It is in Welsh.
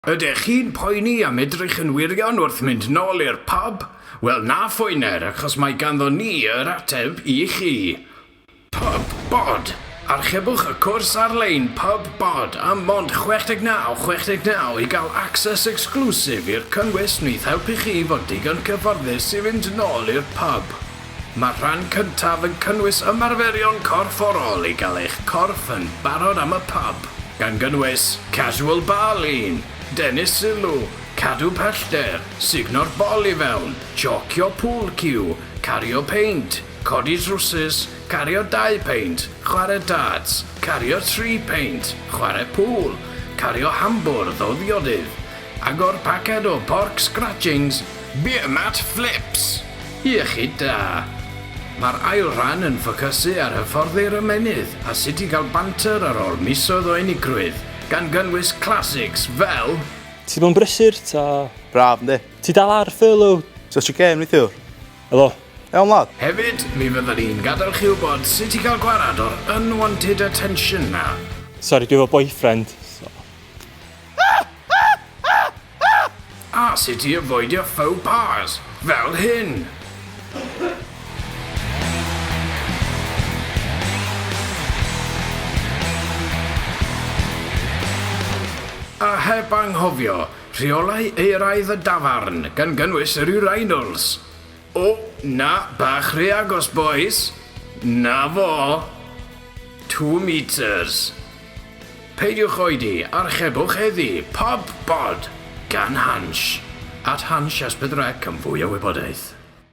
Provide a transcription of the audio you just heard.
Ydych chi'n poeni am edrych yn wirion wrth mynd nol i'r pub? Wel na phoener achos mae ganddo ni yr ateb i chi! Pub Bod! Archebwch y cwrs ar-lein Pub Bod am mond 69, 69 i gael access exclusive i'r cynnwys wneith helpu chi fod digon cyfforddus i fynd nol i'r pub. Mae'r rhan cyntaf yn cynnwys ymarferion corfforol i gael eich corff yn barod am y pub, gan gynnwys casual bar lean, denu sylw, cadw pellter, sugno'r bol i fewn, jocio pool cue, cario peint, codi drwsus, cario dau peint, chwarae darts, cario tri peint, chwarae pŵl, cario hambwrdd o ddiodydd, agor paced o pork scratchings, beer mat flips! Iechyd da. Mae'r ail ran yn ffocysu ar hyfforddi'r ymennydd a sut i gael banter ar ôl misoedd o unigrwydd, gan gynnwys classics fel. Ti mewn brysur ta? Braf yndi? Ti dal ar furlough? So ti gêm neithiwr? Helo. Iawn wlad? Hefyd, mi fyddan ni'n gadael chi wybod sut i gael gwared o'r unwanted attention 'na. Sori, dwi efo boyfriend, so. A sut i afoidio faux pas fel hyn! A heb anghofio rheolau euraidd y dafarn, gan gynnwys yr urinals! O, na, bach rhy agos bois! 'Na fo! Two metres. Peidiwch oedi, archebwch heddi, pob bod! gan Hansh, at Hansh Esbydwrec am fwy o wybodaeth.